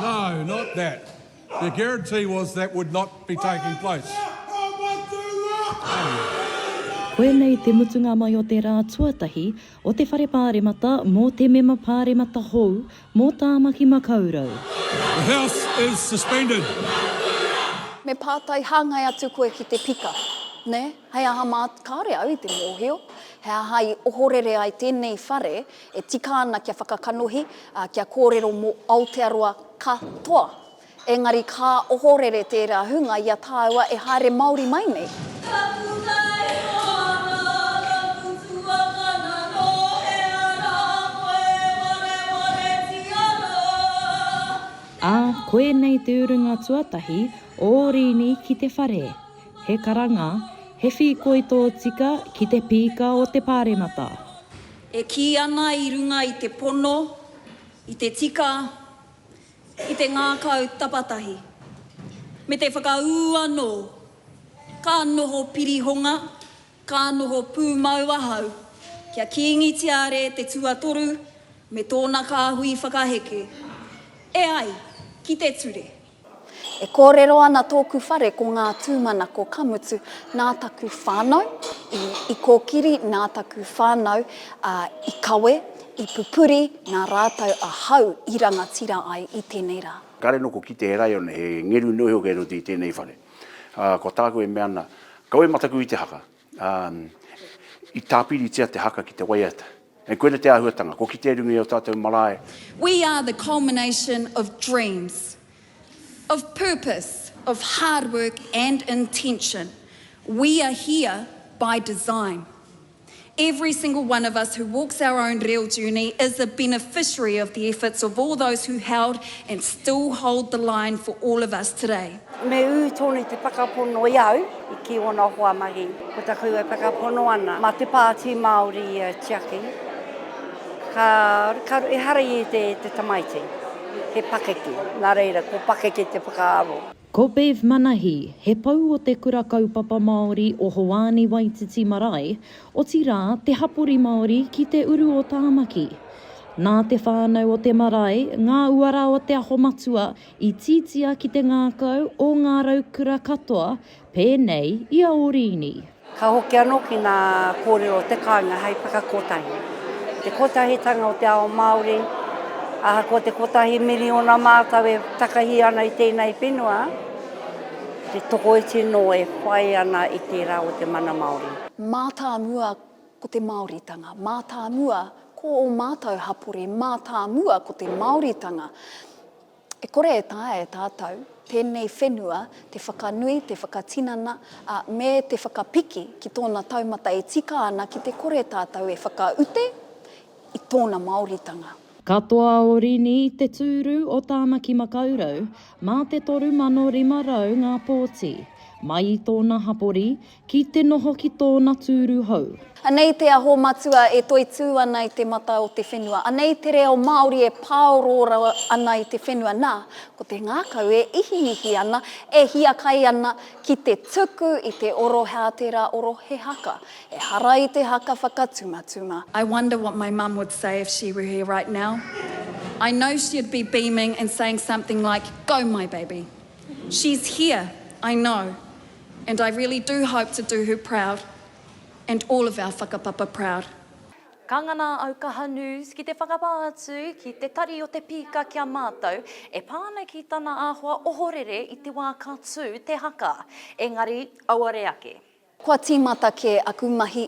No, not that. The guarantee was that would not be taking place. Koinei te mutunga mai o te rā tuatahi o te Whare Pāremata mō te Mema Pāremata hou mō Tāmaki Makaurau. The House is suspended. Me pātai hāngai atu koe ki te pika, nē? Hei aha mā, kāore au i te mōhio, he aha i ohorere ai tēnei whare E tika ana kia whakakanohi, ā, kia kōrero mō Aotearoa ka toa. Engari ka ohorere tērā hunga i a tāua e haere Māori mai nei. Ā, koinei te urunga tuatahi o Rīni ki te whare. He karanga, he whīkoi tōtika ki te pīka o te Pāremata. E kī ana i runga i te pono, i te tika, i te ngākau tapatahi, me te whakaū anō, ka noho pirihonga, ka noho pūmau ahau kia Kīngi Tiare te Tuatoru me tōna kāhui whakaheke. E ai ki te ture. E kōrero ana tōku whare ko ngā tūmanako ka mutu nā taku whānau i, i kōkiri, nā taku whānau ā, i kawe, i pupuri, nā rātou ahau i rangatira ai i tēnei rā. Kāre noku ki te raione, he ngeru noa iho kei roto i tēnei whare. Ā, ko tāku e mea ana, Kawe mataku i te haka, ā, i tāpiritia te haka ki te waiata. Hei, koina te āhuatanga, ko kite runga i ō tātou marae. We are the culmination of dreams, of purpose, of hard work and intention. We are here by design. Every single one of us who walks our own reo journey is a beneficiary of the efforts of all those who held and still hold the line for all of us today. Me ū tonu i te whakapono i au, i kī ōna hoa mahi. Ko tā koutou e whakapono ana, mā te Pāti Māori ia e tiaki, ka, ka, ehara i ētahi e te tamaiti. He pakeke, nā reira, ko pakeke te whakaaro. Ko Bev Manahi, he pou o te Kura Kaupapa Māori o Hoani Waititi Marae, otirā te hapori Māori ki te uru o Tāmaki. Nā te whānau o te marae, ngā uara o Te Aho Matua I titia ki te ngākau o ngā raukura katoa, pēnei i a Orīni. Ka hoki anō ki ngā kōrero o te kāinga hei whakakotahi te kotahitanga o te ao Māori. Ahakoa te kotahi miriona mātou e takahi ana i tēnei whenua, he tokoiti nō e whai ana i tērā o te mana Māori. Mātāmua Ko te Māoritanga, mātāmua ko ō mātou hapori, mātāmua ko te Māoritanga. E kore e taea e tātou tēnei whenua te whakanui, te whakatinana, ā, me te whakapiki ki tōna taumata e tika ana ki te kore tātou e whakaute i tōna Māoritanga. Katoa o Rini i te tūru o Tāmaki Makaurau, mā te 3,500 ngā pōti. Mai i tōna hapori, Ki te noho ki tōna tūru hou. Anei te aho matua e toitū ana i te mata o te whenua. Anei te reo Māori e pāoro rawa ana i te whenua. Nā, ko te ngākau e ihiihi ana, e hiakai ana ki te tuku i te oro hā tērā oro he haka. Ehara i te haka whakatumatuma. I wonder what my mum would say if she were here right now. I know she'd be beaming and saying something like, Go my baby. She's here, I know. And I really do hope to do her proud and all of our whakapapa proud. Ka ngana au Kaha News ki te whakapā atu ki te tari o te pīka ki a mātou e pā ana ki tana āhua ohorere i te wā ka tū te haka. Engari, auare ake. Kua tīmata kē aku mahi,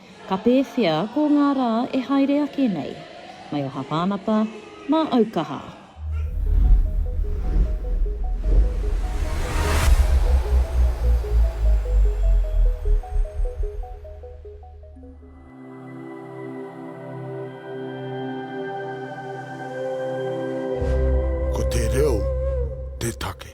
Ka pēwhea ko ngā rā e haere ake nei? Mai o Hapānapa, mā Aukaha. Ko te reo te take.